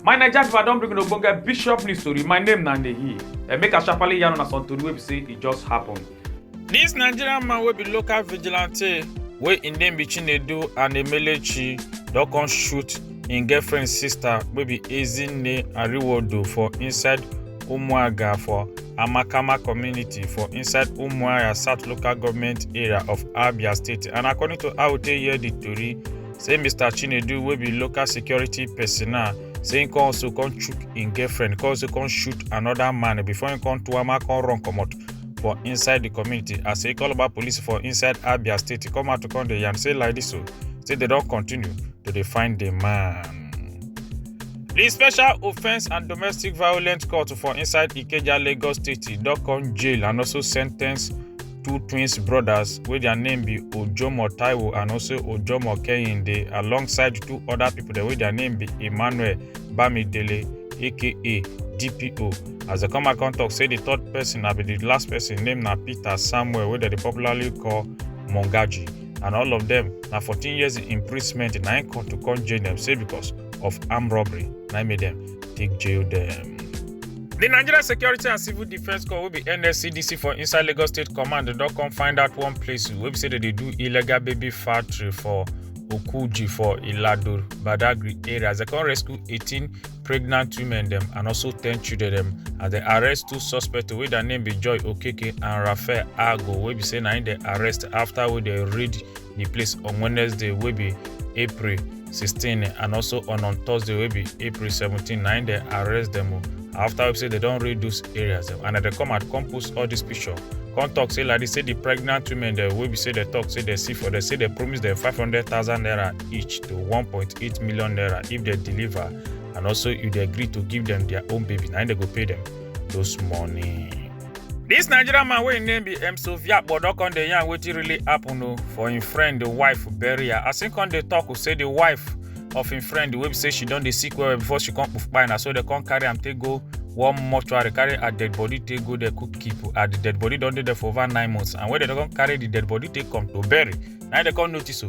my naija pipo i don bring una ogbonge bishop news tori my name na nehi and make i sharparly yarn una some tori wey be say e just happen. dis nigerian man wey be local vigilante wey im name be chinedu anemelechi don come shoot im girlfriend sister wey be ezinne ariwodo for inside umuaga for amakama community for inside umuahia south local government area of abia state and according to how we take hear di tori say mr chinedu wey be local security personnel say im come also come chook im girlfriend come also come shoot anoda man before im come tuama come run comot for inside di community as e call about police for inside abia state come out to come dey yarn say like dis o say dem don continue to dey find di man. di special offence and domestic violence court for inside ikeja lagos state don come jail and also sentence two twins brothers wey their name be ojomo taiwo and also ojomo kehinde alongside two other people dem wey their name be emmanuel bamidele aka dpo as dem come back come talk say the third person na be the last person name na peter samuel wey dem dey popularly call mongaji and all of them na 14 years imprisonment na im court to come jail dem say because of armed robbery na im make dem take jail dem. The Nigeria Security and Civil Defence Corps wey be NSCDC for inside Lagos State Command don come find out one place wey be say dem dey do illegal baby factory for Okuji for Ilado Badagry area as dem come rescue 18 pregnant women dem and also ten children dem as dem arrest two suspects wey their name be joy okeke and raphael ago wey be say na im dem arrest after wey dem raid di place on wednesday wey be april 16 and also on on thursday wey be april 17 na im dem arrest dem o after wey be say dem don raid those areas dem and dem come out come post all dis picture come talk say like dis say di pregnant women dem wey be say dem talk say dem see for dem say dem promise dem 500000 naira each to 1.8 million naira if they deliver and also if they agree to give them their own baby now they go pay them those money. This Nigerian man wey im name be Emso Viakpo don come dey yarn wetin really happen o for im friend the wife bury her as im come dey talk o say the wife of im friend wey be say she don dey sick well well before she come kpuf kpai na so dem come carry am take go one mortuary carry her dead body take go there cook keep her the dead body don dey there for over nine months and when dem don come carry the dead body take come to bury na im dem come notice o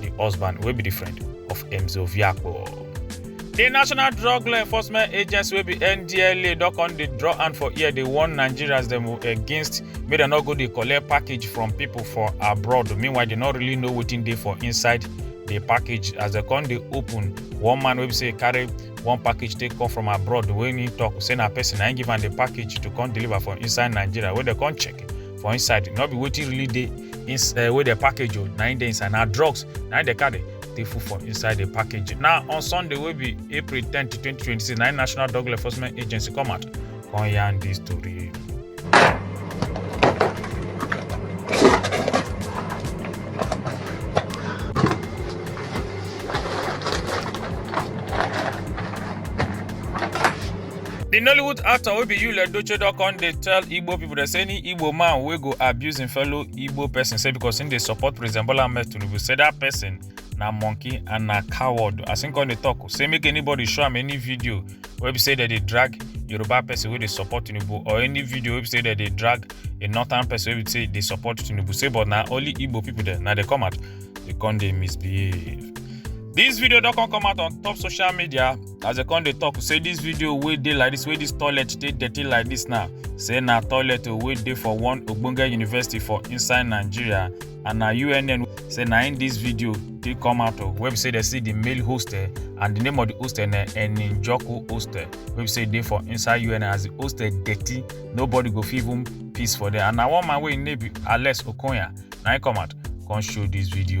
di husband wey be di friend of emzo viakpo di national drug law enforcement agency wey be ndla don come dey draw hand for ear dey warn nigerians dem against make dem no go dey collect package from pipo for abroad meanwhile dem no really know wetin dey for inside di package as dem come dey open one man wey be say carry one package take come from abroad wey he talk say na person na him give am the package to come deliver for inside nigeria wey dem come check for inside no be wetin really dey ins uh, wey dey package o na im dey inside na drugs na im dey carry take full for inside the package na on sunday wey be april ten to twenty twenty six na im national drug law enforcement agency come out come yarn dis tori. di nollywood actor wey be yul edochie don come dey tell igbo pipo dey say any igbo man wey go abuse im fellow igbo person say because im dey support president bola ahmed tinubu say dat person na monkey and na coward as im come dey tok say make anybody show am any video wey be say dem dey drag yoruba person wey dey support tinubu or any video wey be say dem dey drag a northern person wey be say dey support tinubu say but na only igbo pipo dem na dey come out dey come dey misbehave dis video don come come out on top social media. as dem come dey talk say this video wey dey like this wey this toilet dey dirty like this now say na toilet o wey dey for one ogbonge university for inside nigeria and na unn say na in this video dey come out o wey be say dem see the male hostel and the name of the hostel na eninjoku hostel wey be say dey for inside unn as the hostel dirty nobody go fit even piss for there and na one man wey im name be alex okonya na im come out come show this video.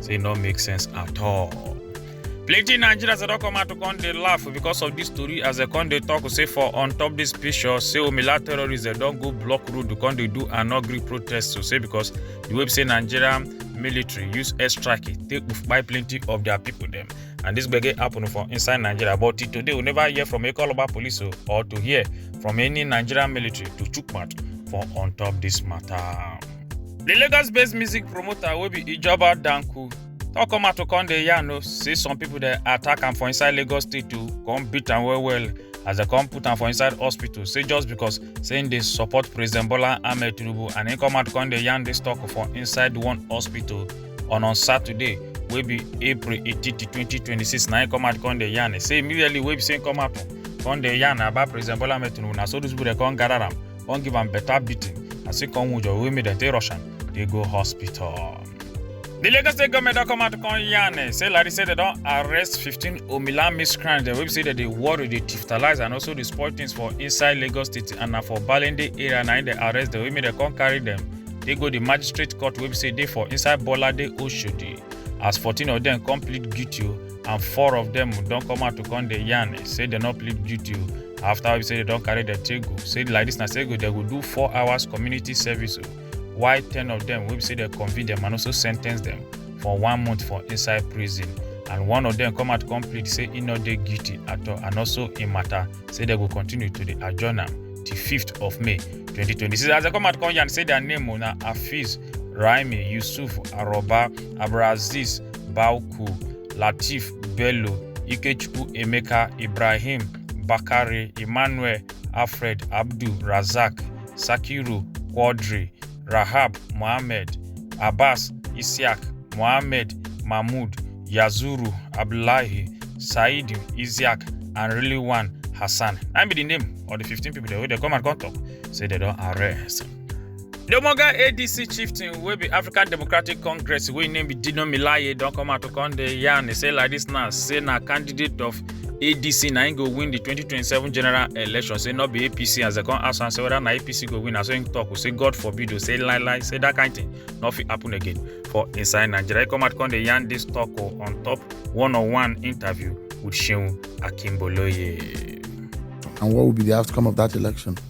say e no make sense at all. plenty nigerians dey don come out to come dey laugh because of dis tori as dem come dey talk say for on top dis picture say omila terrorists dem don go block road to come dey do an ugly protest to say because the way be say nigerian military use airstrike take kpai plenty of their people dem and dis gbege happen for inside nigeria but till today we never hear from ekoloba police o or to hear from any nigerian military to chook mouth for on top dis matter. The Lagos-based music promoter wey be Ijoba Danku don come out to come dey yarn o say some people dey attack am for inside Lagos state o come beat am well well as dem come put am for inside hospital say just because say im dey support President Bola Ahmed Tinubu and im come out come dey yarn dis talk for inside one hospital on on Saturday wey be April 18, 2026 na im come out come dey yarn say immediately wey be say im come out come dey yarn about President Bola Ahmed Tinubu na so those people dey come gather am come give am better beating as e come wound Owe make dem take rush am dey go hospital. The Lagos State government don come out come yarn eh, say Larry say they don arrest 15 Omila miscreants dem wey be say dem dey worry, dey digitalize and also dey spoil things for inside Lagos State and na for Balende area na im dem arrest dem wey make dem come carry dem dey go the magistrate court wey be say dey for inside Bolade Oshodi as 14 of dem come plead guilty o and four of dem don come out to come dey yarn say dem no plead guilty o after we say dem don carry their take go say like this na say go dem go do four hours community service o while ten of dem wey be say dem convict dem and also sen ten ce dem for one month for inside prison and one of dem come out come plead say e no dey guilty at all and also im matter say dem go continue to dey adjourn am till fifth of may twenty twenty six as dem come out come yarn say their name o na hafiz raimi yusuf aroba abdulaziz Bauku, Latif Bello, Ikechukwu Emeka, Ibrahim, Bakare, Emmanuel, Alfred, Abdul, Razak, Sakiru, Quadri, Rahab, Mohammed, Abbas, Isiak, Mohammed, Mahmoud, Yazuru, Abdullahi, Said, Isiak, and really one Hassan. That be the name of the 15 people wey dey come and come talk say they don arrest. The Omoga ADC chieftain wey be African Democratic Congress wey name be Dino Milaye don come out to come dey yarn say like this now say na candidate of ADC na im go win the 2027 general election say no be APC as dem come ask am say whether na APC go win na so im talk o say God forbid o say lie lie say that kind thing no fit happen again for inside Nigeria. He come out come dey yarn this talk o on top one on one interview with Seun Akinboloye. And what will be the outcome of that election?